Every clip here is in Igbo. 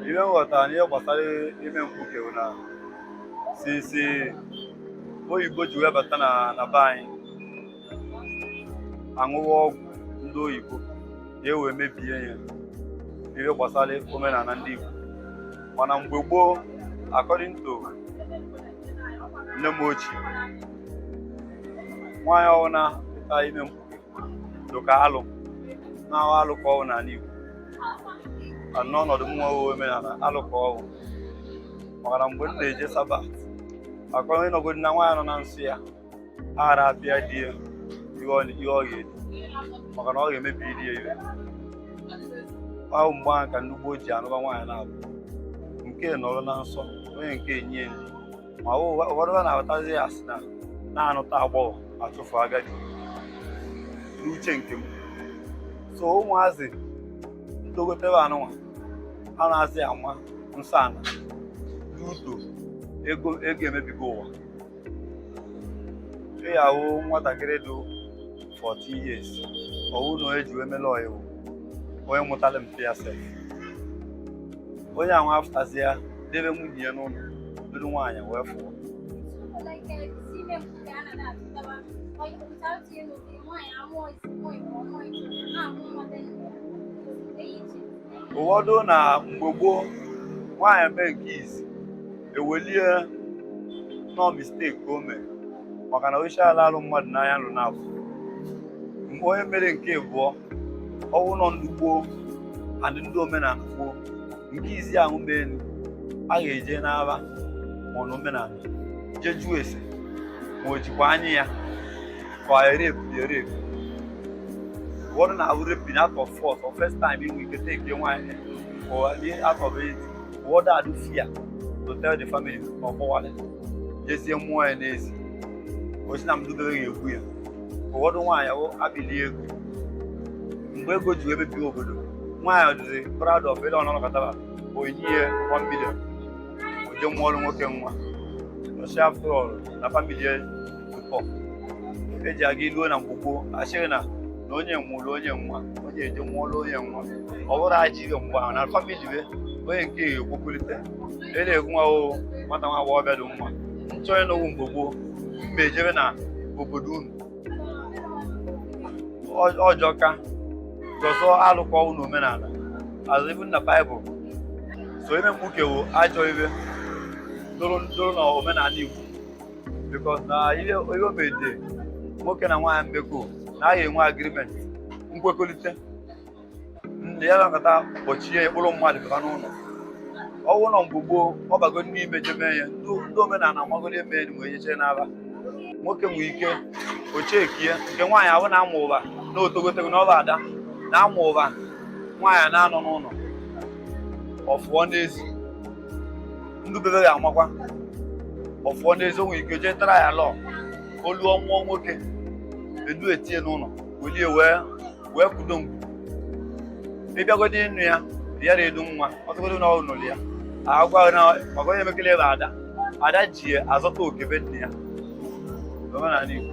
ihe m ghọtara n'ihe gbasara ime mkpuke bụ na since oyibo ji wee bata na na be anyị a ṅụwa ọgwụ ndị oyibo ka e wee mebie ya ihe gbasara omenala ndị Igbo mana mgbe gboo according to nne m ochie nwaanyị ọ wụ na ịtụta ime mkpuke dị ka alụ na-ahụ alụ ka ọ wụ n'ala Igbo n'ọnọdụ m nwewe omenala alụ ka ọ wụ maka na mgbe m na-eje sabat a kọrọ ịnọgodi na nwaanyị nọ na nsọ ya ara apịa di ya ihe ọ ga-eri maka na ọ ga-emebi di ya ihe ahụ mgbe ahụ ka ndị gboo ji anụba nwaanyị naabọ nke nọrọ na nsọ onye nke enye ya nri ma ụfọdụ na-abatazi ya a sị na a na-anụta agbọghọ a chụfụ agadi n'uche nke m so ụmụazị na-etogote ebe a nụnwa anazị ama nsọ ana due to ego emebigo ụwa ị ga-ahụ nwatakịrị dị 14 years ọ wụ na onye o ji wee mele ọyị wụ onye mụtara mpa ya sef onye ahụ afụtazịa debe nwunye ya n'ụlọ duru nwaanyị wee fụọ ụfọdụ na mgbe gboo nwaanyị mee nke izi e welie na ọ mistake o mere maka na osisi ala alụ mmadụ n'anya nụ naabọ mgbe onye mere nke abụọ ọ wụ na ọ ndị gboo adị ndị omenala gboo nke izi ahụ mee nụ a ga-eje n'afa ma ọ na omenala jee jụọ ese ma o jikwa anya ya for a rape be a rape one na rape bin out of force or first time we go take your wine or out of it what that do fear to tell the family or for wallet jesie mụọ ya n'ezi ọ sị na mmadụ doro ya egwu ya ụfọdụ nwaanyị ahụ abili ego mgbe ego ji emebi obodo nwaanyị ọ dịzi proud of ele ọnọlọkọtara onye ihe 1 million o jee mụọrọ nwoke nwa ọ sị afọ na family eji aga iluo na mkpuke asịrị na na onye wụ onye nwa onye eje nwụọla onye nwa ọ bụrụ ajọ ihe mgbe ahụ na famili be onye nke ya ekwekọrịta e na-egwu nwa o nwata nwa agbọghọ bịa dị nwa nchọ onye na ọ wụ mgbe gboo mba ejebe na obodo unu ọjọka zọzọ alụkwa ọ wụ n'omenala azụbụ na baịbụl so ime mkpuke wụ ajọ ihe dụrụ na omenala igbo because na ihe e mede nwoke na nwaanyị mmekọ na agha enwe agreement nkwekọrịta ndị ya nakọta kpọchie ya kpụrụ mmadụ pụta n'ụlọ ọ wụ na mgbe gboo ọ bago ndị ime jeme ya ndị omenala amagoro eme enyi wee nyechere n'aba nwoke nwee ike ochekie nke nwaanyị ahụ na-amụ ụba na otogotego na ọ bụ ada na-amụ ụba nwaanyị na-anọ n'ụlọ ọ fụọ n'ezi ndị be be ya amakwa ọ fụọ n'ezi o nwee ike jee tara ya lọ olu ọ mụọ nwoke e dutinye n'ụlọ welie wee wee kudo ngwu ị bịagodi ịnụ ya ya na edu nwa ọ tụgodu na ọnụ ya agwa na maka onye emekele ebe ada ada ji azọta oke be nna ya omenala Igbo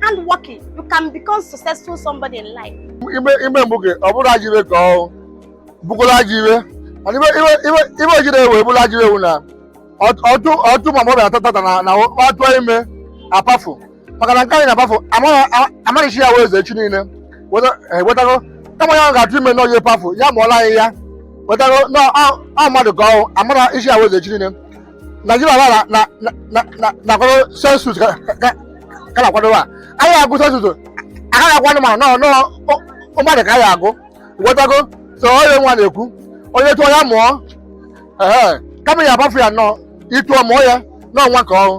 hard working you can become successful somebody in life ime ime mkpuke ọ bụrụ ajọ ihe ka ọ bụkwara ajọ ihe mana ihe ihe ihe ihe o jiri wee bụrụ ajọ ihe wụ na ọ tụ ọ tụ ma mọbịa atọ tata na na ọ tụ ime apafu maka na nke anyị na-apafu amaghịchi ya wee eze echi niile wọta- eh, wọtago kama ya ga-atụ ime n'oye pafu ya mụọla anyị ya wọtago na ọ mmadụ ka ọ amara isi ya wee eze echi niile Naijiria na na na na na na-akwado sensus ka ka- ka na-akwado a anyị agụ sensus agaghị akwado ma nọ nọ o- o mmadụ ka anyị agụ wọtago so onye nwa na-ekwu onye tụọ ya mụọ ehe kama ya apafu ya na ị tụọ mụọ ya na ọ nwa ka ọ wụ